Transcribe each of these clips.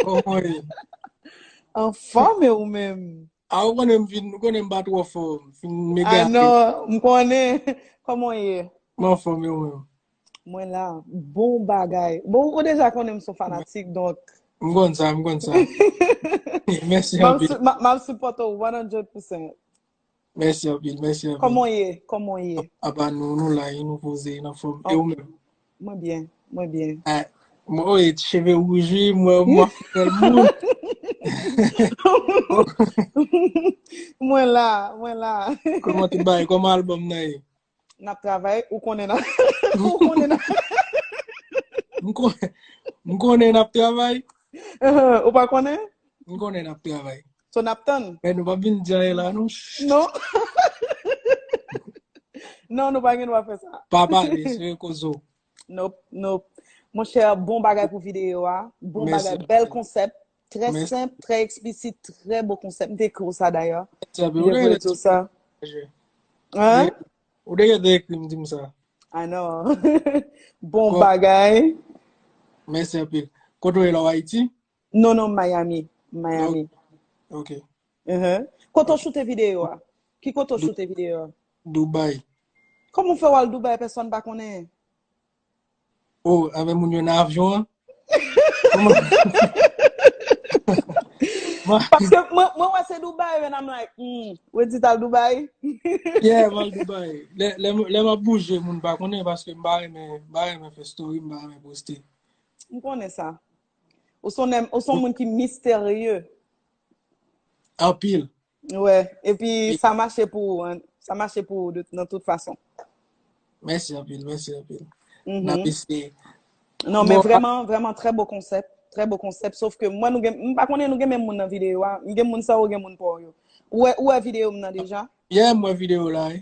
Oh mwen. Anfòm e ou menm? A ou konnen m fin, ou konnen m pa twò fò, m fin m A egare. non, m konnen. Kòman w ye? M anfòm e ou menm? Mwen la, bon bagay. Bon, ou deja konnen m son fanatik, donk. M konn sa, m konn sa. Mèsi Map anpil. su- map map supporte ou 100%. Mèsi anpil, mèsi anpil. Kòman w ye? Kòman w ye? Apa nou, nou la e nou poze nan fòm. E ou menm? Mwen byen, mwen byen. Ah, mwen ou e ti cheve wouj wi, mwen mwa fidèl moun. Mwen la, mwen la. Kòman tout bagay? Kòman albòm nan ye? Nap travay, ou konnen nan. Ou konnen nan. M konnen. M konnen nap travay. Ou pa konnen? M konnen nap travay. So nap tann? Men nou pa bin djaye la nou. Non. Non nou pa gen dwa fè sa. Pa pale, se rekozo. Nop, nop. Mon chè, bon bagay pou videyo a. Bon bagay, bel konsep. Trè semp, trè eksplisit, trè bon konsep. Mte ekri ou sa dayè. Mte ekri ou tout sa. Hein? Ou deke te ekri mte ekri ou sa. I know. Bon bagay. Mèsi anpil. Kote ou ye la ou Ayiti? Non non Miami, Miami. Oh, ok. Uh-huh. Kote ou choute video a? Ki kote ou choute video a? Dubai. Kòm ou fè wal Dubai pèsòn pa konnen? Oh, avè moun yo nan avyon an? Paske mwen wè se Dubai and I'm like, hmm, wè di tal Dubai? Yeah, wal Dubai. Lè mwen bouje moun pa konnen paske mba remen fè story, mba remen poste. Mkonnen sa. Ou son nèm, ou son moun ki misterye. Anpil. Wè, epi sa mache pou ou, sa mache pou ou nan tout fason. Mèsi anpil, mèsi anpil. Mm-hmm. Nan pisi. Non, men vreman, vreman, trè bo konsèp, trè bo konsèp, sof ke mwen nou gen, mwen pa konnen nou gen men moun nan videyo a, mwen gen moun sa ou gen moun pa ou yo. Ou wè, ou wè videyo mwen nan deja? Yè mwen videyo la, e.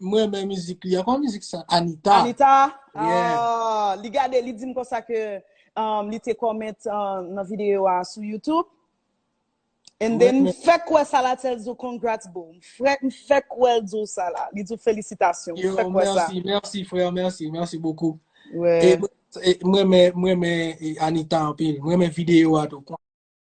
M renmen mizik li an. Kòman mizik sa? Anita. Anita? Yeah. Ah, li gade, li dim konsa ke um, li te comment uh, nan video a sou YouTube. And then, Mwen- m fèk wè sa la tèl zou congrats boo. M fèk, m fèk wè l zou sa la. Li zou felisitasyon. M Yo, fèk wè sa. merci, merci frère, merci, merci beaucoup. E Ouais. mwen- e mwen men mwen men e, Anita anpil. Mwen men video a tou.